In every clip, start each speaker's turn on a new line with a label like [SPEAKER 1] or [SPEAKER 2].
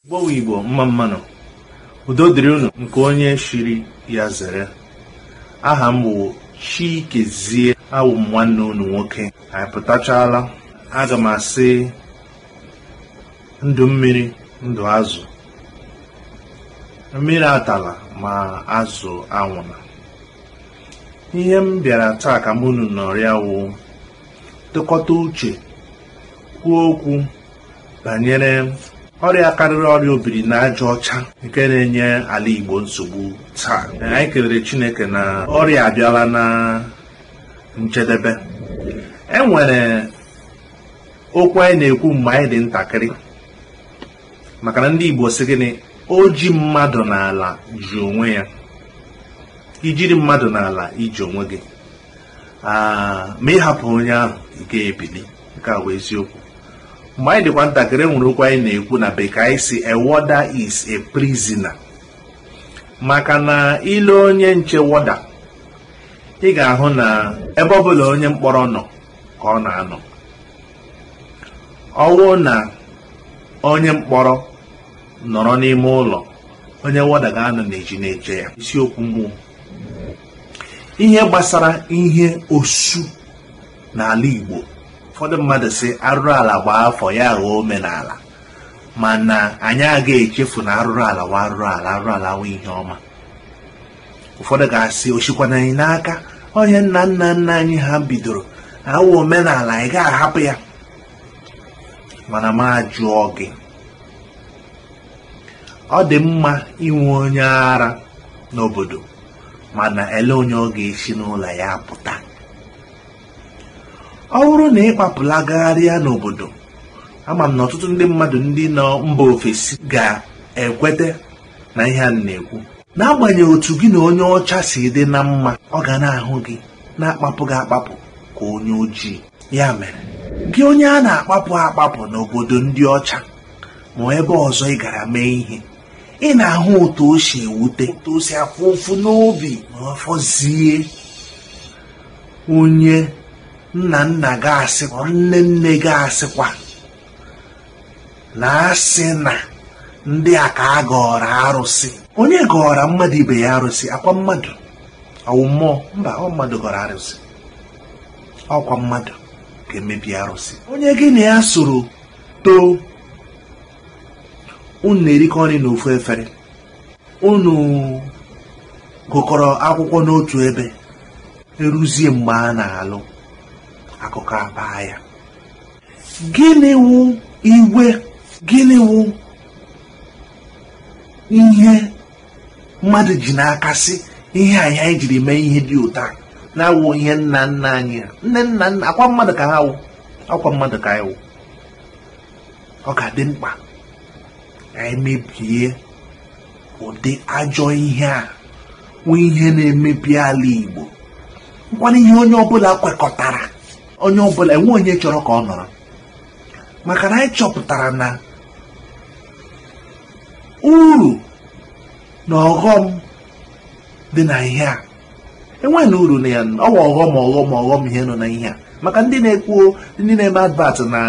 [SPEAKER 1] Igbo wụ Igbo mma mma nụ, udo dịrị unu nke onye shiri ya zere. Aha m bụ Chikezie awụ m nwanne unu nwoke. Anyị pụtachala, aga m asị ndụ mmiri ndụ azụ. Mmiri atala ma azụ anwụna. Ihe m bịara taa ka mụ unu nọrịa wụ tụkọta uche kwuo okwu banyere ọrịa karịrị ọrịa obiri n'aja ọcha nke na-enye ala Igbo nsogbu taa anyị kelere Chineke na ọrịa abịala na njedebe e nwere okwu anyị na-ekwu mgbe anyị dị ntakịrị maka na ndị Igbo sị gịnị o ji mmadụ n'ala ji onwe ya i jiri mmadụ n'ala i ji onwe gị Ah, ma ị hapụ onye ahụ ị ga-ebili nke a bụ eziokwu mgbe anyị dịkwa ntakịrị e nwere okwu anyị na-ekwu na bekee anyị sị a warder is a prisoner maka na ị lee onye nche warder ị ga-ahụ na ebe ọ bụla onye mkpọrọ nọ ka ọ na-anọ ọ wụ na onye mkpọrọ nọrọ n'ime ụlọ onye warder ga-anọ n'ezi na-eche ya isiokwu m wụ ihe gbasara ihe osu n'ala Igbo ụfọdụ mmadụ sị arụrụ ala gbaa afọ ya aghọọ omenala mana anyị aga echefu na arụrụ ala wụ arụrụ ala arụrụ ala awụ ihe ọma ụfọdụ ga-asị o sikwana anyị n'aka ọ ihe nna nna nna anyị ha bidoro ọ wụ omenala ị ga-ahapụ ya mana m ajụọ gị ọ dị mma inwe onye ara n'obodo mana elee onye ọ ga-esi n'ụlọ ya pụta ọ bụrụ na ị kpapụla gagharịa n'obodo ama m na ọtụtụ ndị mmadụ ndị nọ mba ofesi ga-ekweta n'ihe a m na-ekwu n'agbanyeghị otu gị na onye ọcha si dị na mma ọ ga na-ahụ gị na-akpapụ gị akpapụ ka onye ojii ya mere gị onye a na-akpapụ akpapụ n'obodo ndị ọcha ma ebe ọzọ ị gara mee ihe ị na-ahụ otu o si ewute otu o si afụ ụfụ n'obi ma ọ fọzie onye nna nna gị asị ma nne nne gị asịkwa na asị na ndị a ka a gọọrọ arụsị onye gọọrọ mmadụ ibe ya arụsị ọkwa mmadụ ọ wụ mmụọ mba ọ mmadụ gọrọ arụsị ọkwa mmadụ ga-emebi arụsị onye gị na ya soro too unu na-erikọ nri n'ofu efere unu gụkọrọ akwụkwọ n'otu ebe eruzie mgbe a na-alụ akụkọ abaa ya gịnị wụ iwe gịnị wụ ihe mmadụ ji n'aka sị ihe ahụ anyị jiri mee ihe dị otu a na ọ wụ ihe nna nna anyị ha nne nna nna ọ kwa mmadụ ka ha wụ ọ kwa mmadụ ka anyị wụ ọ ga-adị mkpa anyị mebie ụdị ajọ ihe a wụ ihe na-emebi ala Igbo nkwana ihe onye ọbụla kwekọtara onye ọbụla enwe onye chọrọ ka ọ nọrọ maka na anyị chọpụtara na uru na ọghọm dị na ihe a enweghịnụ uru na ya ọ wụ ọghọm ọghọm ọghọm ihe nọ na ihe a maka ndị na-ekwu ndị na-eme advert na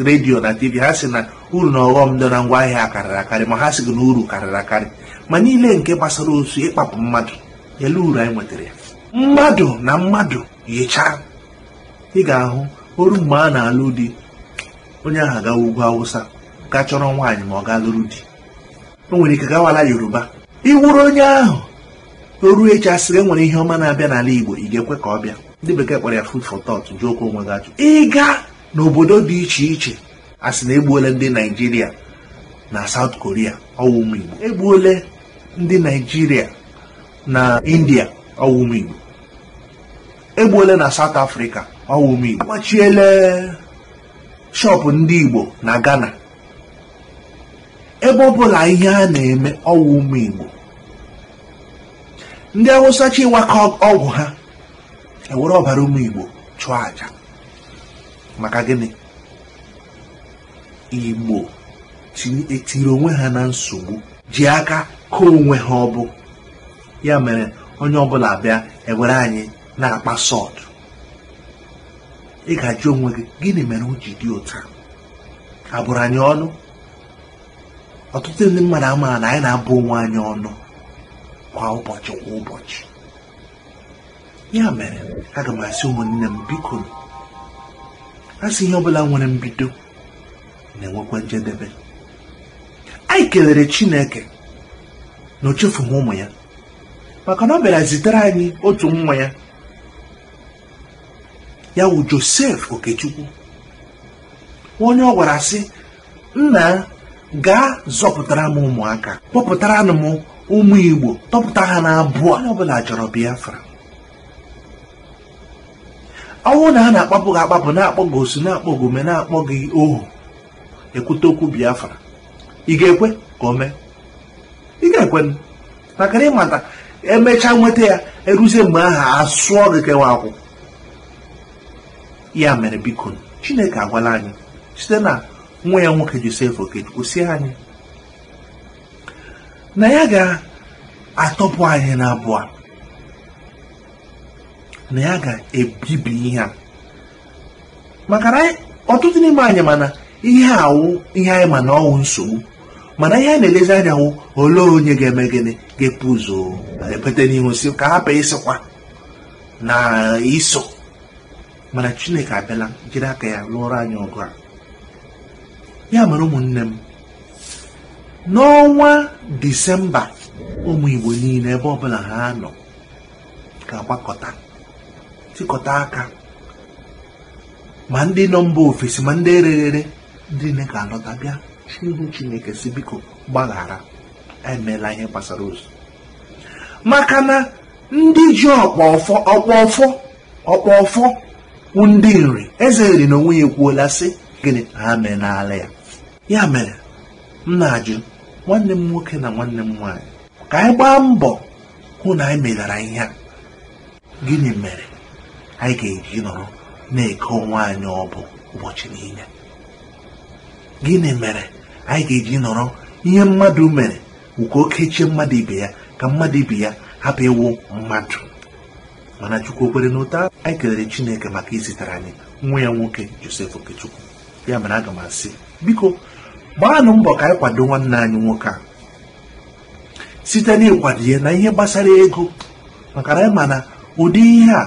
[SPEAKER 1] redio na tv ha sị na uru na ọghọm dị na ngwa ahịa karịrị akarị ma ha sị gị na uru karịrị akarị ma niile nke gbasara osu ịkpapụ mmadụ ele uru anyị nwetara ya mmadụ na mmadụ yichaa ị ga-ahụ o ru mgbe a na-alụ di onye ahụ agawa ugwu awụsa ga chọrọ nwaanyị ma ọ gaa lụrụ di o nwere ike gawa ala yoruba ị wụrụ onye ahụ o ru echi a sị gị e nwere ihe ọma na-abịa n'ala igbo ị ga-ekwe ka ọ bịa ndị bekee kpọrọ ya food for thought jụọkwa onwe gị ajụ ị gaa n'obodo dị iche iche a sị na egbuole ndị naijiria na south korea ọ wụ ụmụ igbo egbuole ndị naijiria na india ọ wụ ụmụ igbo egbuole na South Africa ọ wụ ụmụ Igbo agbachiele shop ndị Igbo na Ghana ebe ọbụla ihe a na-eme ọ wụ ụmụ Igbo ndị Awụsa chịwa ka ọgwụ ha ewere ọbara ụmụ Igbo chụọ aja maka gịnị Igbo etiri onwe ha na nsogbu ji aka ka onwe ha ọ bụ ya mere onye ọbụla bịa ewere anyị na-akpa sọt ị ga-ajụ onwe gị gịnị mere o ji dị otu a a bụrụ anyị ọnụ ọtụtụ ndị mmadụ amaghị na anyị na-abụ onwe anyị ọnụ kwa ụbọchị kwa ụbọchị ya mere aga m asị ụmụnne m bikonụ a sị ihe ọbụla nwere mbido na-enwekwa njedebe anyị kelere chineke na o chefughị ụmụ ya maka na ọ bịara zitere anyị otu nwa ya ya wụ joseph okechukwu onye ọ gwara sị nna gaa zọpụtara m ụmụaka kpọpụtara m ụmụ igbo tọpụta ha n'agbụ onye ọbụla chọrọ biafra ọwụ na ha na-akpapụ gị akpapụ na-akpọ gị osu na-akpọ gị ume na-akpọ gị ohu ekwute okwu biafra ị ga-ekwe ka o mee ị ga-ekwe maka na ịmata emechaa nweta ya eruzie mgbe ahụ asụọ gị kewa akwụ ya mere biko chineke agwala anyị site na nwa ya nwoke joseph okechukwu sị anyị na ya ga-atọpụ anyị n'agbụ a na ya ga-ebibi ihe a maka na ọtụtụ n'ime anyị ma na ihe a wụ ihe anyị ma na ọwụ nsogbu mana ihe a na-elezi anya wụ olee onye ga-eme gịnị ga-epu ụzọ ekweta n'ihu sị ka a hapụ ịsịkwa na i so mana chineke abịala jiri aka ya lụọrọ anyị ọgụ a ya mere ụmụnne m n'ọnwa disemba ụmụ igbo niile ebe ọbụla ha nọ ga-agbakọta tikọta aka ma ndị nọ mba ofesi ma ndị ereghere ndị niile ga-alọta bịa ihu chineke sị biko gbaghara emela ihe gbasara osu maka na ndị ji ọkpụ ọfọ ọkpụ ọfọ ọkpụ ọfọ wụ ndị nri eze nri na onwe ya ekwuola sị gịnị na ha emelaala ya ya mere m na-ajụ nwanne m nwoke na nwanne m nwaanyị ka anyị gbaa mbọ hụ na anyị melara ihe a gịnị mere anyị ga-eji nọrọ na-eke onwe anyị agbụ ụbọchị niile gịnị mere anyị ga-eji nọrọ ihe mmadụ mere ka o kechie mmadụ ibe ya ka mmadụ ibe ya hapụ ịwụ mmadụ mana chukwu o kwere n'ụta anyị kelere chineke maka izitere anyị nwa ya nwoke joseph okechukwu ya mere aga m asị biko gbaanụ mbọ ka anyị kwado nwanne anyị nwoke a site n'ịkwado ya n'ihe gbasara ego maka na anyị ma na ụdị ihe a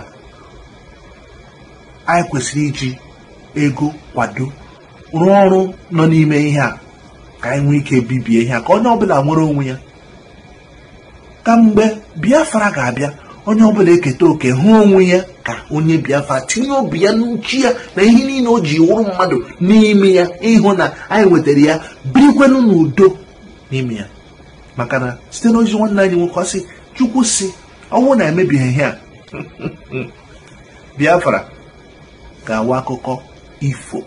[SPEAKER 1] anyị kwesịrị iji ego kwado rụọ ọrụ nọ n'ime ihe a ka anyị nwee ike bibie ihe a ka onye ọbụla nwere onwe ya ka mgbe biafra ga-abịa onye ọbụla eketa oke hụ onwe ya ka onye biafra tinye obi ya na uche ya na ihe niile o ji wụrụ mmadụ n'ime ya ịhụ na anyị nwetara ya birikwenụ n'udo n'ime ya maka na site n'ozi nwanne anyị nwoke ọ sị chukwu sị ọwụ na emebighị ihe a biafra ga-awụ akụkọ ifo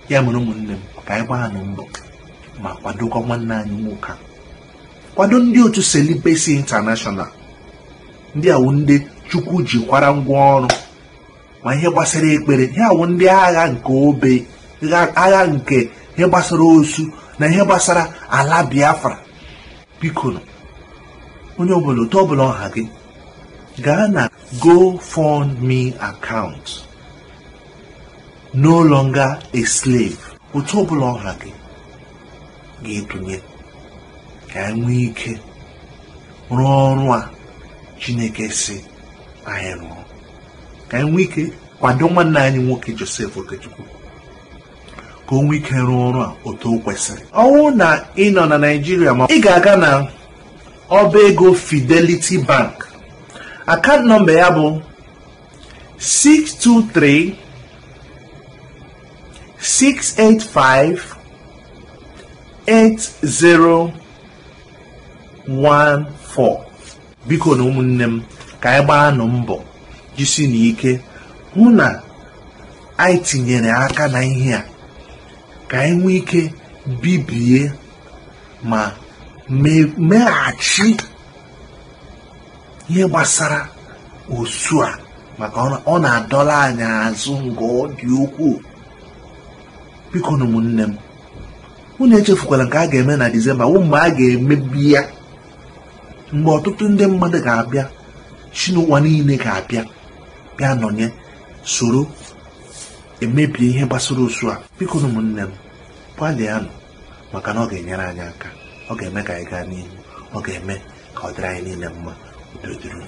[SPEAKER 1] ya mere ụmụnne m ka anyị gbaanụ mbọ ma kwadokwa nwanne anyị nwoke a kwado ndị otu Celibacy International ndị a wụ ndị chukwu jikwara ngwa ọrụ ma ihe gbasara ekpere ihe a wụ ndị agha nke obe agha nke ihe gbasara osu na ihe gbasara ala biafra bikonụ onye ọbụla otu ọbụla ọ ha gị gaa na gofundme account no longer a slave otu ọbụla ọ ha gị ga-etunye ka anyị nwee ike rụọ ọrụ a chineke sị anyị rụọ ka anyị nwee ike kwado nwanne anyị nwoke Joseph Okechukwu ka o nwee ike rụọ ọrụ a otu o kwesịrị ọ wụrụ na ị nọ na Naịjirịa ma ị ga-aga na ọba ego Fidelity Bank akaụntụ nọmba ya bụ 623 685 8014 bikonụ ụmụnne m ka anyị gbaa nụ mbọ jisi nụ ike hụ na anyị tinyere aka na ihe a ka anyị nwee ike bibie ma meghachi ihe gbasara osu a maka ọ na-adọla anyị azụ nke ọ dị ukwuu bikonụ ụmụnne m unu echefukwala nke a ga-eme na Disemba wụ mgbe a ga-emebi ya mgbe ọtụtụ ndị mmadụ ga-abịa si n'ụwa niile ga-abịa bịa nọnye soro emebie ihe gbasara osu a bikonụ ụmụnne m gbalịanụ maka na ọ ga-enyere anyị aka ọ ga-eme ka anyị gaa n'ihu ọ ga-eme ka ọ dịrị anyị niile mma udo dịrị unu.